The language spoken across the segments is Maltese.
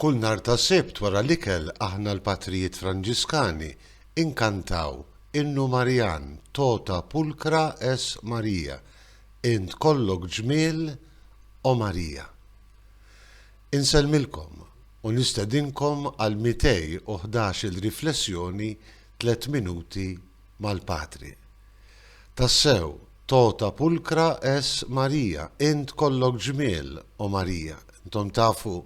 Kull nhar ta' Sibt wara l-ikel aħna l-Patrijiet Franġiskani inkantaw Innu Marjan Tota Pulcra es Maria, Int kollok ġmiel, O Marija. Insellmilkom u nistedinkom għal 211 il-riflessjoni tliet minuti mal-Patri. Tassew, Tota pulcra es Maria, Int kollok ġmiel, O Marija. Intom tafu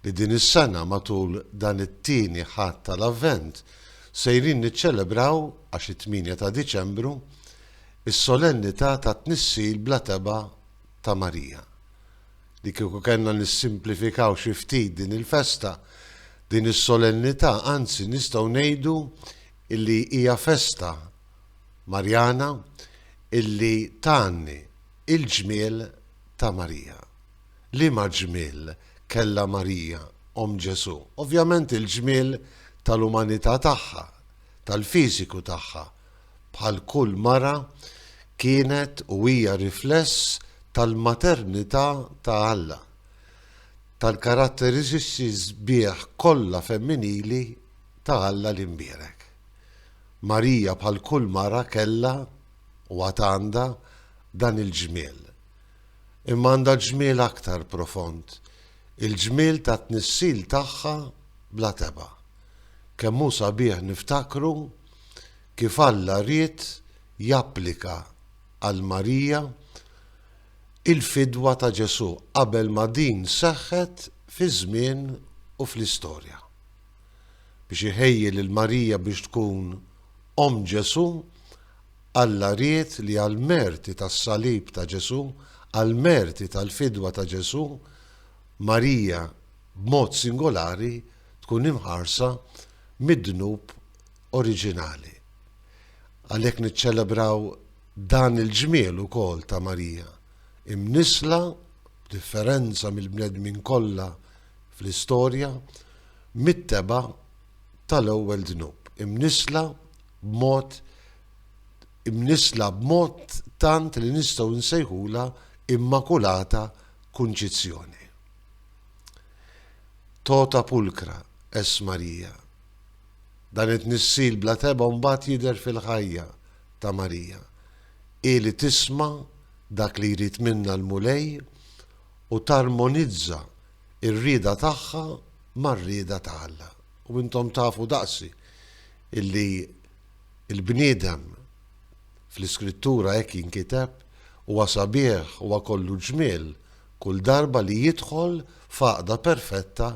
li din is-sena matul dan it-Tieni Ħadd tal-Avvent sejrin niċċelebraw, għax it-tmienja ta' Diċembru, is-Solennità tat-Tnissil bla Tebgħa ta' Marija. Li kieku kellna nissimplifikaw xi ftit din il-festa, din is-Solennità, anzi nistgħu ngħidu illi hija festa Marjana illi tgħanni il-ġmiel ta' Marija. Liema ġmiel kellha Marija, Omm Ġesù? Ovvjament il-ġmiel tal-umanità tagħha, tal-fiżiku tagħha. Bħal kull mara kienet u hija rifless tal-maternità ta' Alla, tal-karatteriżiċi sbieħ kollha femminili ta' Alla li nbierek. Marija bħal kull mara kellha, u għad għandha, dan il-ġmiel. Imma għandha ġmiel aktar profond, il-ġmiel tat-tnissil tagħha bla tebgħa. Kemm hu sabiħ niftakru kif Alla ried japplika għal Marija il-fidwa ta' Ġesù qabel ma din seħħet fiż-żmien u fl-istorja. biex iħejji lil Marija biex tkun omm Ġesù, Alla ried li għall-merti tas-salib ta' Ġesù, għall-merti tal-fidwa ta' Ġesù, Marija b'mod singolari tkun imħarsa mid-dnub oriġinali. Għalhekk niċċelebraw dan il-ġmiel ukoll ta' Marija, imnissla b'differenza mill-bnedmin kollha fl-istorja mit-tebgħa tal-ewwel dnub, imnissla b'mod imnissla b'mod tant li nistgħu nsejħulha Immakulata Kunċizzjoni. Tota pulcra es Marija. Dan it-tnissil bla tebgħa mbagħad jidher fil-ħajja ta' Marija. Hi li tisma' dak li jrid minna l-Mulej u tarmonizza r-rieda tagħha mar-rieda ta' Alla. U intom tafu daqsi illi l-bniedem fl-Iskrittura hekk jinkiteb huwa sabiħ, huwa kollu ġmiel kull darba li jidħol f'għaqda perfetta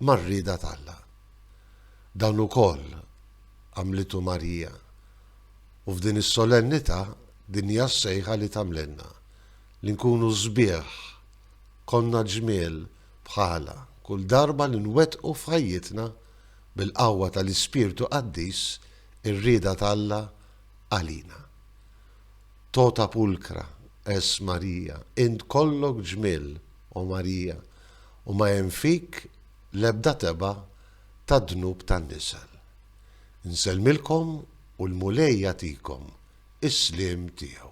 mar-rieda t'Alla. Dan ukoll għamlitu Marija. U f'din is-solennità din hija s-sejħa li tagħmlilna. li nkunu sbieħ, konna ġmiel bħalha, kull darba li nwettqu f'ħajjitna, bil-qawwa tal-Ispirtu Qaddis, ir-rieda t'Alla għalina. Tota pulcra es Maria, int kollok ġmiel, o Marija, u ma hemm fik l-ebda tebgħa tad-dnub tan-nisel. Insellmilkom U l-Mulej jagħtikom is-sliem tiegħu.